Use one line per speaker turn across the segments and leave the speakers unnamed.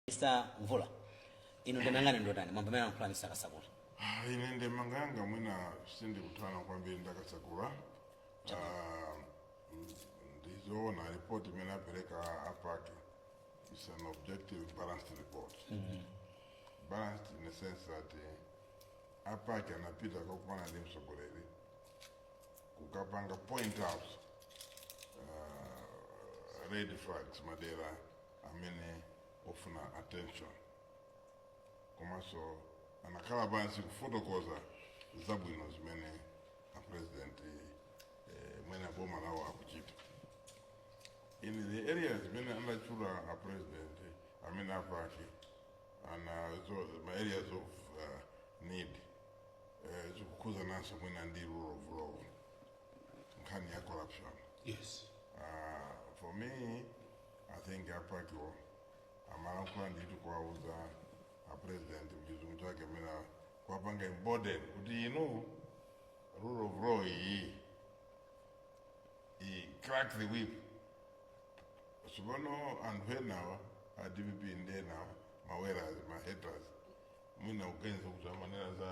Mr. Mvula, inu ndemangani ndotani mwambo amene anakhala Mr. Kasakula? Ah, ine ndemanga yanga mwina sindikutayana kwambiri ndi a Kasakula Ah, mm, ndizoona report imene apereka a PAC is an objective balanced report balanced in the sense that eh, a PAC anapita kakumana ndi mtsogoleri kukapanga point out ah, red flags madera amene ofuna attention komanso anakhala pansi kufotokoza zabwino zimene a president eh, mwina boma lawo akuchita in the areas zimene anatchula a president amene a PAC ana zo ma areas of uh, need eh, zikukhuzananso mwina ndi rule of law nkhani ya corruption yes uh, for me I think a PAC iwo amalankhula ndithu kuwauza a president mchizungu chake mena kuwapanga embolden kuti inu rule of law iyi iyi crack the whip tsopano anthu enawa a dpp ndi enawa maweras ma haters mwina akuganiza kuti amanena za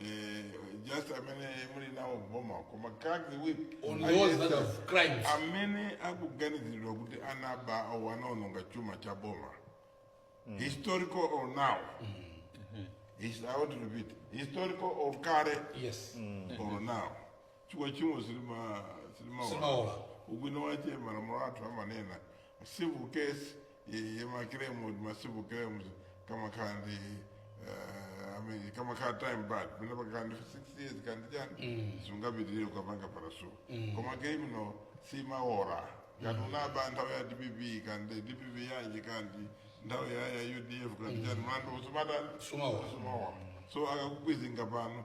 eh, just amene muli nawo m'boma koma crack the whip On those aliyense that have crimes. amene akuganiziridwa kuti anaba or anaononga chuma cha boma historical or now His- I want to repeat historical or kale Yes. or now chifukwa tchimo silimaola ubwino wache malamulo athu amanena civil case ya ma claim ma civil claims kamakhala ndi eh, I mean, kamakhala time barred pena pakakhala ndi 6 years kaya ndi chani sungapitirire kukapanga pursue koma criminal simaola ngati unaba nthawi ya dpp kaya ndi dpp yanji kaya ndi nthawi ya ya udf kaya ndi chani mlandu sumatani Sumaola. sumaola so akakukwizinga pano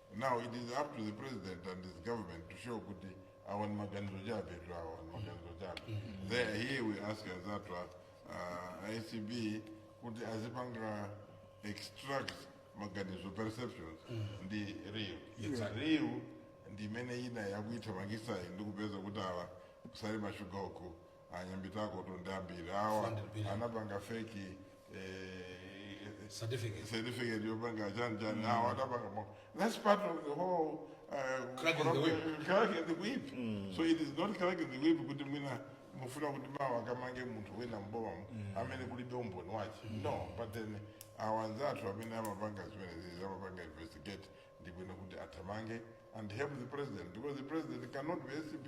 Now it is up to the president and his government to show kuti awa ni maganizo chabetu awa ni maganizo chabe. There here we ask anzathu a ACB kuti azipanga extract maganizo perceptions ndi real. Exactly. Real ndi imene ina yakuithamangitsa ndi kupeza kuti awa ku Salima Sugar uku anyambitakotu ndi ambiri awa 400 billion. anapanga fake eh, Certificate. certificate yopanga chani chani awa anapangamo that's part of the whole uh, Cracking the problem- whip. cracking the whip so it is not cracking the whip kuti mwina mufuna kuti mawa kamange munthu wina mbomamu amene kulibe umboni wace no but then awa anzathu amene amapanga zimenezi amapanga investigate ndibwino kuti athamange and help the president because the president cannot be acb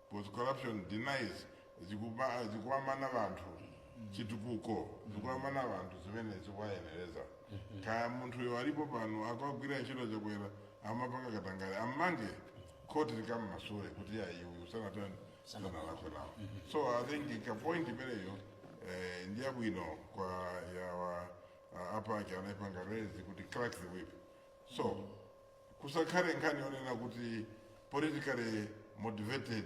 cause corruption denies zikuba zikuwamana vanthu chitukuko zikuwamana vanthu zimene zikuwayenereza kaya munthuyo alipo pano akagwira ntchito chakwera amapanga katangale ammange khoti likammasule kuti ayi awa sanatani sanalakwe awo so i think ka point imeneyo eh, ndi yabwino kwa yawa uh, a PAC anaipanga raise kuti crack the whip so kusakhale nkhani yonena kuti politically motivated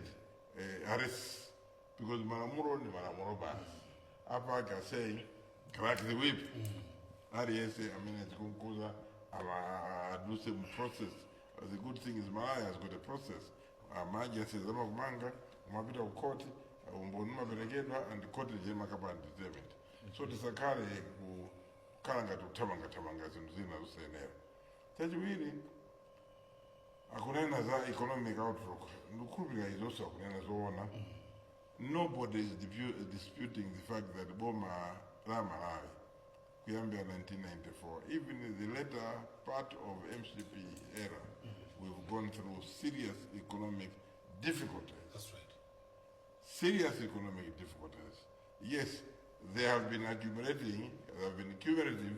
eh, arrests because malamulo ndi malamulo basi a PAC are saying crack the whip aliyense amene zikumkhudza adutse mu process the good thing is Malawi has got a process ma agencies amakumanga umapita ku court umboni umaperekedwa and court ndiye imakapanga determine so tisakhale kukhala ngati kuthamangathamanga zinthu zina zosayenera chachiwiri akunena za economic outlook ndikukhulupirira izonso akunena zoona nobody is dipu- disputing the fact that boma la malawi kuyambira 1994 even the later part of mcp era we've gone through serious economic difficulties That's right. serious economic difficulties. Yes, they have been accumulating, they have been cumulative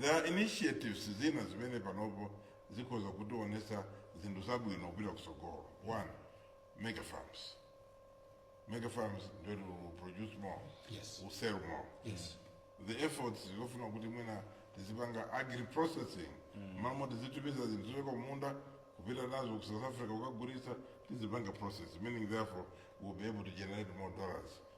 There are initiatives zina zimene panopo zikhoza kutionesa zinthu zabwino kupita kutsogolo. One, mega farms. Mega farms ndiye we'll produce more, Yes. we'll sell more. Yes. The efforts zofuna kuti mwina tizipanga agri processing m'malo moti tizitumiza zinthu zochoka kumunda kupita nazo ku South Africa kukagulitsa tizipanga process meaning therefore we'll be able to generate more dollars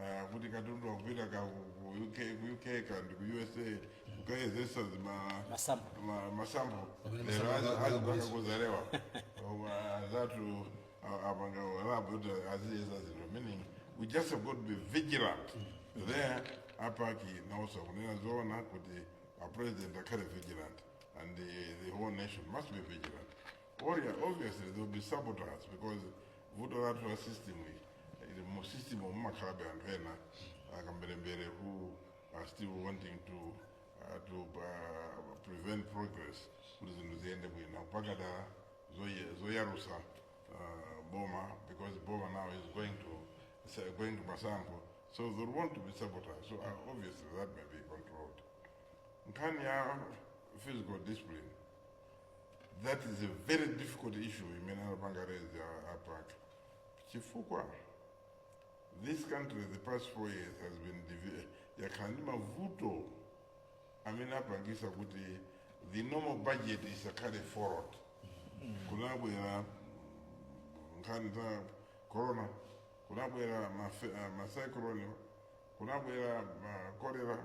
Ah, kuti katundu akupita ka ku ku uk ku uk kandi ku usa kukayezetsa zima sample. ma- ma sample Amene lero ma sample azi- akagwira azipanga mwanzo. ku Zalewa koma anzathu a- apanga lab kuti aziyeza zinthu meaning we just have got to be vigilant there a PAC nawonso akunena zoona kuti a president akhale vigilant and the, the whole nation must be vigilant Oh yeah, obviously there will be saboteurs because vuto lathu la system iyi ili mu system mumakhalabe anthu ena akamberembere who are still wanting to uh, to uh, prevent progress kuti zinthu ziyende bwino mpaka dala zoye- zoyalutsa uh, boma because boma now is going to is going to masankho so they'll want to be saboteurs so uh, obviously that may be controlled nkhani ya fiscal discipline that is a very difficult issue imene anapanga raise a- a PAC chifukwa this country the past four years has been divi- yakhala ndi mavuto amene apangisa kuti the normal budget isakhale followed kunabwera nkhani za corona kunabwera mafe- ah, macyclone kunabwera ma cholera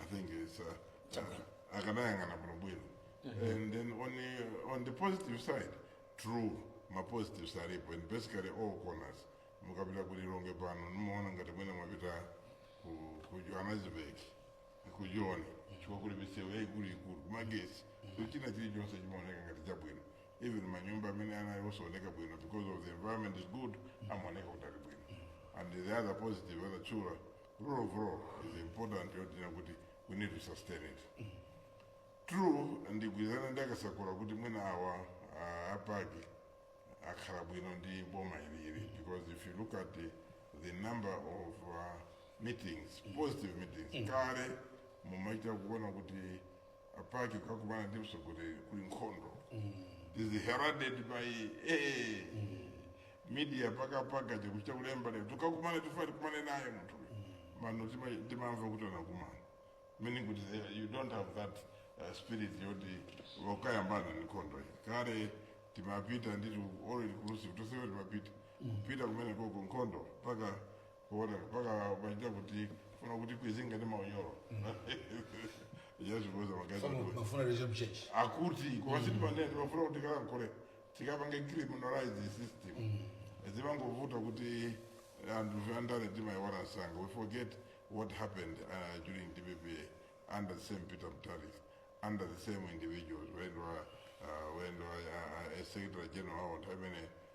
I think it's uh, Chabwino. uh, akanayang'ana bwinobwino and then on the, on the positive side true mapositives alipo and basically all corners mukapita ku Lilongwe pano mumaona ngati mwina mwapita ku- ku johannesburg ku joni chifukwa kuli misewu yaikuluikulu kumagesi so china chilichonse chimaoneka ngati chabwino even manyumba amene anali osaoneka bwino because of the environment is good amaoneka kuti ali bwino and the other positive anatchula rule of law is important yotina kuti we need to sustain it true ndigwirizana ndi akasakula kuti mwina awa ah, a PAC akhala bwino ndi boma ilili because if you look at the, the number of uh, meetings positive meetings kale mumachita kuona kuti a PAC kukakumana ndi mtsogoleri kuli nkhondo is heralded by eh, media mpakampaka ikuchita kulemba lero tukakumana tifuna tikumane naye munthu pano tima- timamva kuti anakumana meaning kuti eh, you don't have that uh, spirit yoti wakayambana ni nkhondo iyi kale timapita nditi already kulusi kutosewe timapita kupita kumene koko nkhondo mpaka kuona mpaka ukaita kuti tifuna kuti tikweze ngati maunyolo yazvipoza magazi Fana akulu. mafuna raise m'church. akuti kwasiti panene tifuna kuti tikalankhule tikapange criminalize system zimangovuta kuti anthu andale timaiwala msanga we forget what happened uh, during dpp under the same Peter Mutharika under the same individuals wendwa uh, wendwa uh, a secretary general awo nthawi imene